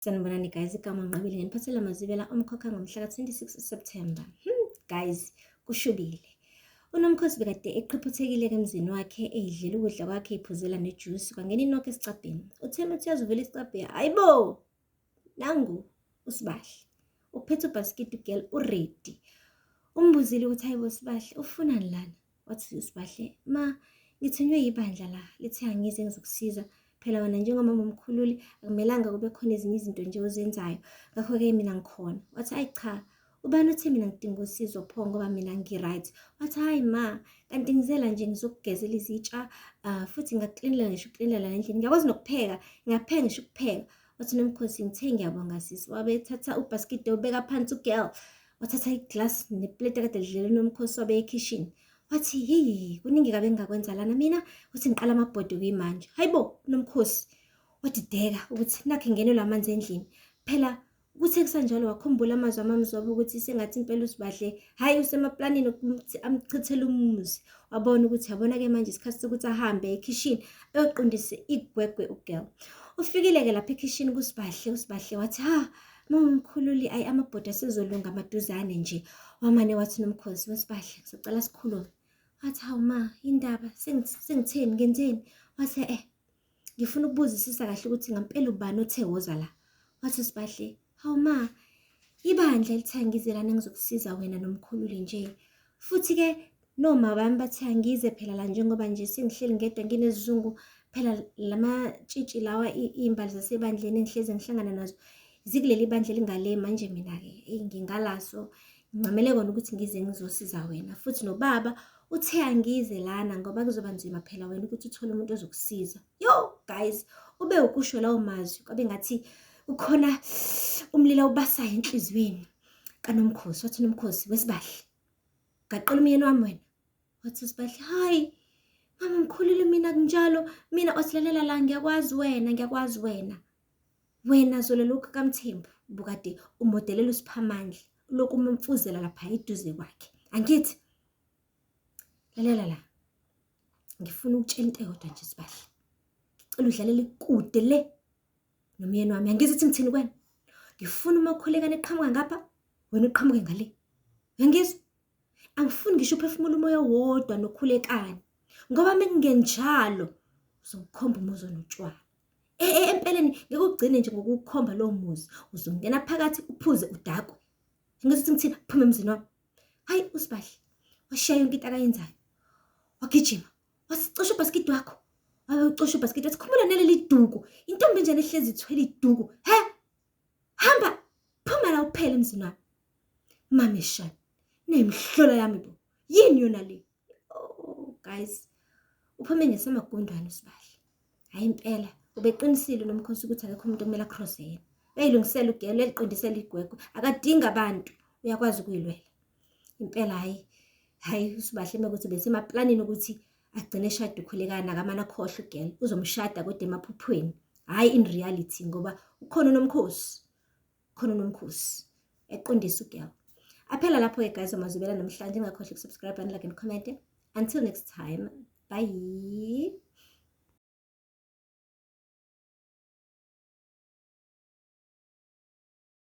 Sanibonani guys, igama unqabile ngeniphathela mazibela umkhokha ngomhla ka-26 September. Hmm, guys, kushubile. Unomkhosi bekade eqhiphuthekile emzini wakhe eyidlela ukudla kwakhe iphuzela nejuice kwangena inoko esicabheni. Utheme uthi yazuvela isicabhe, hayibo! Nangu usibahle. Uphethe ubhasikidi ugel uready. Umbuzile ukuthi hayibo sibahle, ufunani lana? Wathi uSbahle, ma ngithunywe yibandla la lithe angize ngizokusiza phela wena njengomama omkhululi akumelanga kube khona ezinye izinto nje ozenzayo ngakho-ke mina ngikhona wathi ayi cha ubani othe mina ngidinga usizo pho ngoba mina ngi-right wathi hhayi ma kanti ngizela nje ngizokugezela izitsha um futhi ngakuklinela ngisho ukuklinela nendlini ngiyakwazi nokupheka ngiyapheka ngisho ukupheka wathi nomkhosi ngithe ngiyabonga sisi wabethatha ubhaskidi obeka phansi ugirl wathatha iglasi nepleti akade lidlele unomkhosi wabe ekhishini wathi heyi kuningi kabe ngingakwenza lana mina uthi ngiqala amabhodi kuyimanje hayi bo unomkhosi wadideka ukuthi nakhe ngenelwe amanzi endlini phela kuthe kusanjalo wakhumbula amazwi amamzobe ukuthi sengathi impela usibadle hhayi usemaplanini ukuthi amchithele umuzi wabona ukuthi yabona-ke manje isikhathi sokuthi ahambe ekhishini ayoqondise igwegwe ugirl ufikile-ke lapha ekhishini kusibahle usibahle wathi ha Mkhululi ayi amabhoda sizolunga maduzane nje. Wamane wathi nomkhosi wesibadla sicela sikhulume. Wathi hawu ma indaba sengitheni ngenzeni? Wathi eh ngifuna ukubuzisisa kahle ukuthi ngampela ubani othe woza la. Wathi sibahle hawu ma ibandla elithangizelana ngizokusiza wena nomkhululi nje. Futhi ke No mabami bathi angize phela la njengoba nje sengihleli ngedwa nginesizungu phela lamatshitshi lawa iy'mbali zasebandleni engihlezi ngihlangana nazo zikuleli bandla elingale manje mina-ke eyi ngingalaso ngincamele kona ukuthi ngize ngizosiza wena futhi nobaba uthe angize lana ngoba kuzoba nzima phela wena ukuthi uthole umuntu ozokusiza yo guys ube ukusho lawo mazwi kwabe ngathi ukhona umlilo ubasayo enhliziyweni kanomkhosi wathi nomkhosi wesibahle Gaqela umyeni wami wena. Wathi uSbahle, hayi mama mkhulile mina kunjalo, mina osilalela la ngiyakwazi wena, ngiyakwazi wena. Wena zolo lokhu kaMthembu bukade umodelela uSiphamandla lokhu umemfuzela lapha eduze kwakhe. Angithi lalela la. Ngifuna ukutshela into eyodwa nje Sibahle. Ngicela udlalele kude le nomyeni wami angizi ukuthi ngithini kwena ngifuna uma ukhulekana eqhamuka ngapha wena uqhamuke ngale uyangizwa angifuni ngisho uphefumula umoya wodwa nokhulekani ngoba mekungenjalo uzokhomba umuzi onotshwala e, e, empeleni ngeke ugcine nje ngokukhomba lowo muzi uzongena phakathi uphuze udakwe ngithi ukuthi ngithina phuma emzini wami hayi usibahle washiya yonke into akayenzayo wagijima wasicosha ubhaskidi wakho wabe ucosha ubhaskidi wathi khumbula naleli duku intombi enjani ehlezi ithwele iduku he hamba phuma la uphele emzini wami mame shani nemihlola yami bo yini yona le oh guys uphume ngesamagundwane usibahle hayi impela ubeqinisile nomkhosi ukuthi akekho umuntu okumele acrosse yena uyayilungisela ugelo eliqondisela igwegwe akadingi abantu uyakwazi ukuyilwela Impela hhayi, hhayi uSbahle uma kuthi besemaplanini ukuthi agcine eshade ukhulekana akamane akhohlwe ugel uzomshada kodwa emaphuphweni hhayi in reality ngoba ukhona unomkhosi khona unomkhosi eqondisa ugel aphela lapho-ke guys amazubela namhlanje ingakhohlwa ukusubscribe and like and comment until next time bye